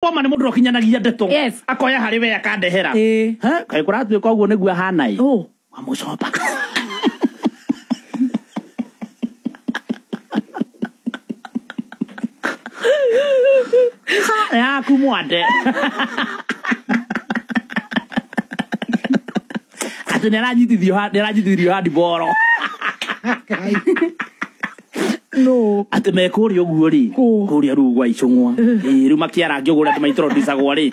Boma nĩ mũndũ ũkinyanagia ndeto Yes. akoya harĩ we akandehera Ĩĩ. Ha, kaĩ kũratuĩka ũguo nĩguo ahana ĩ Ũ. wamũcoba Ha, yaku mwande atĩ nĩ aranyitithio ha- nĩ aranyitithirio handi boro no atĩ me kũrĩa ũguo rĩ Kũ. kũrĩa ruu gwa icũng'wa Ĩĩ, rĩu makĩara ngĩũgũra atĩ maitrodisagwo rĩ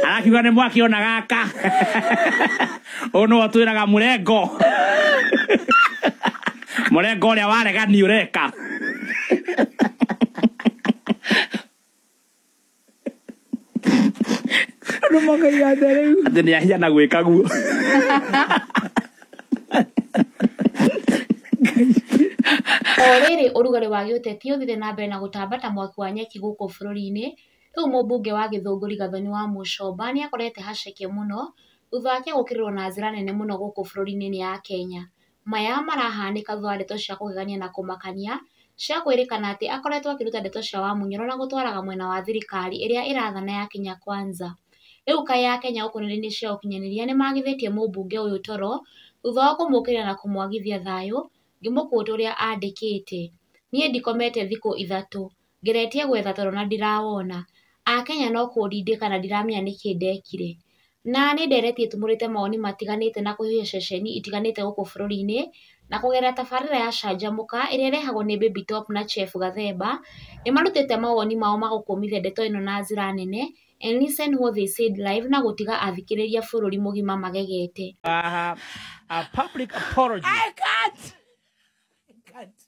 arakiuga nĩ mwaki ona gaka ũyũ nĩwe twĩraga mũrengo mũrengo ũrĩa waregani ũreka Andũ makaiga atĩa rĩu? Atĩ nĩ ahia na gwĩka guo. O rĩrĩ ũrugarĩ wa gĩũteti ũthire na mbere na gũtamba ta mwaki wa nyeki gũkũ bũrũri-inĩ, rĩu mũmbunge wa Gĩthũngũ Rigathoni wa Mũcomba nĩ akorete haceke mũno thutha wake gũkĩrĩrwo na njĩra nene mũno gũkũ bũrũri-inĩ nĩ Akenya. maya marahanĩka thutha wa ndeto cia kũgegania na kũmakania cia kwĩrĩkana atĩ akoretwo akĩruta ndeto cia wamunyoro na gũtwaraga mwena wa thirikari ĩrĩa ĩrathana ya Kenya Kwanza. Rĩu kaĩ Akenya gũkũ nenda-inĩ cia ũkinyanĩria nĩ magithĩtie mũmbunge ũyũ toro thutha wa kũmũkĩrĩra na kũmwagithia thayũ ngĩmũkũta ũrĩa andĩkĩte. Niĩ ndikomete thikũ ithatũ. ngeretie gwetha toro na ndirawona. Akenya no kũndindĩka na ndiramenya nĩkĩ ndekire. Na nĩ nderetie tumũrĩte mawoni matiganĩte na kũihũria ceceni itiganĩte gũkũ bũrũri-inĩ, na kũgerera tabarĩra ya Canjamũka, ĩrĩa ĩrehagwo nĩ Baby Top na Chef Gathemba, nĩ marutĩte mawoni mao ma gũkũmithia ndeto ĩno na njĩra nene, and listen what they said live na gũtiga athikĩrĩria bũrũri mũgima magegete.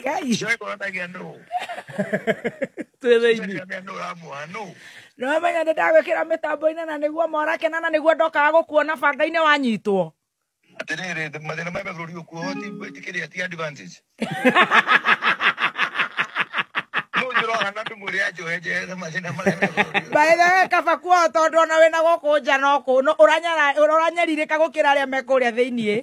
Ngai. Njoe korwo ndagia nũ. Twĩthĩini. Ndagia nũ ũramũha nũ. Nĩwamenya nĩ ndagwĩkĩra mĩtambo-inĩ na nĩguo morakena na nĩguo ndokaga gũkuona banga-inĩ wanyitwo. Atĩrĩrĩ, mathĩna ma bũrũri ũkuo ti gwĩtĩkĩria ti advantage. baithawe kaba kuo tondu ona wina guku nja no ku uranyaririka gukira aria me kuria thiini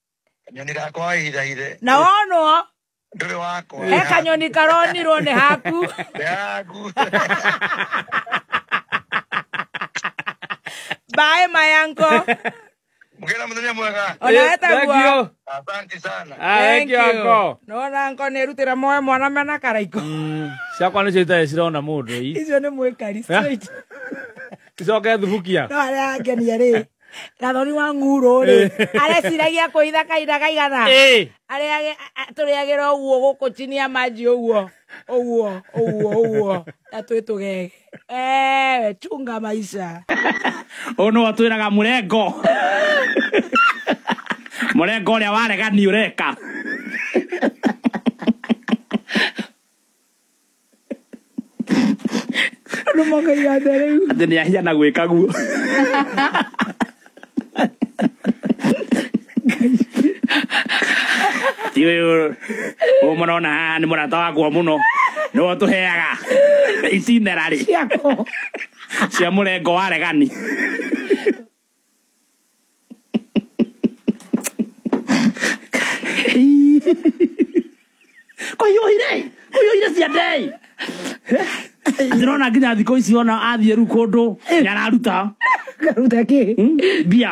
Kanyoni gakwa wahithahithe. Na wonwo. Ndũrĩ wakwa. He kanyoni karonirwo nĩ haku. Nĩ haku. Bye my uncle. Mugĩra mũthenya mwega. Ona wetaguo. Asante sana. Ah, thank you uncle. Nona uncle nĩ rutĩra moe mwana mena karaiko. Mm, ciakwa nĩcio itarĩ cirona mũndũ. Icio nĩ mwĩkari straight. Icoke thubukia. No arĩa angenia rĩ. gathoni wa ng'urũ rĩ eh. areciragia kũitha kahinda kaigana eh. tũrĩagĩra ũguo gũkũ chini ya maji ũguo ũguo ũguo ũguo na twĩ tũgege eh, chunga maisha ũyũ nĩ watwĩraga mũrengo mũrengo ũrĩa waregani ũreka Andũ makaiga atĩa rĩu? Atĩ nĩ ahia na gwĩka guo. Ti ũyũ ũyũ mũrona haha nĩ mũrata wakwa mũno nĩ ũtũheaga itinera rĩ Ciako. cia mũrengo wa regani kũhiũhire kũhiũhire ciandei ndĩrona nginya thikũ ici ona athiĩ rĩu kũndũ nĩararuta karuta kĩ mbia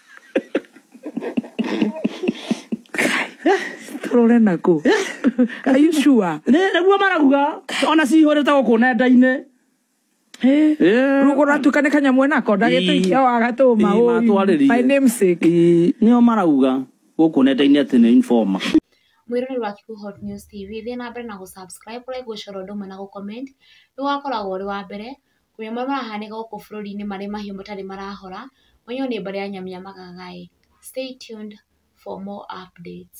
tũrore nakũ are you sure Nĩ- nĩguo maraguga ona cihũrĩte gũkũ nenda-inĩ Eh, Eh. rũgũ ratuĩka nĩ kanyamwe nako ndagĩte Ii. ikia wa gatũma Ii, ũi. matwarĩrie. my namesake Ĩ, nĩo marauga gũkũ nenda-inĩ atĩ nĩ informa mwĩroreri wa Kibu Hot News TV thiĩ na mbere na gũsubscribe like gũcora ũndũ ũmwe na gũcomment nĩ wakoragwo ũrĩ wa mbere Mahiũ marĩa marahanĩka gũkũ bũrũri-inĩ marĩ mahiũ matarĩ marahora, mũiyũro nĩ mbara ya nyamũ ya magaga ĩ, stay tuned for more updates.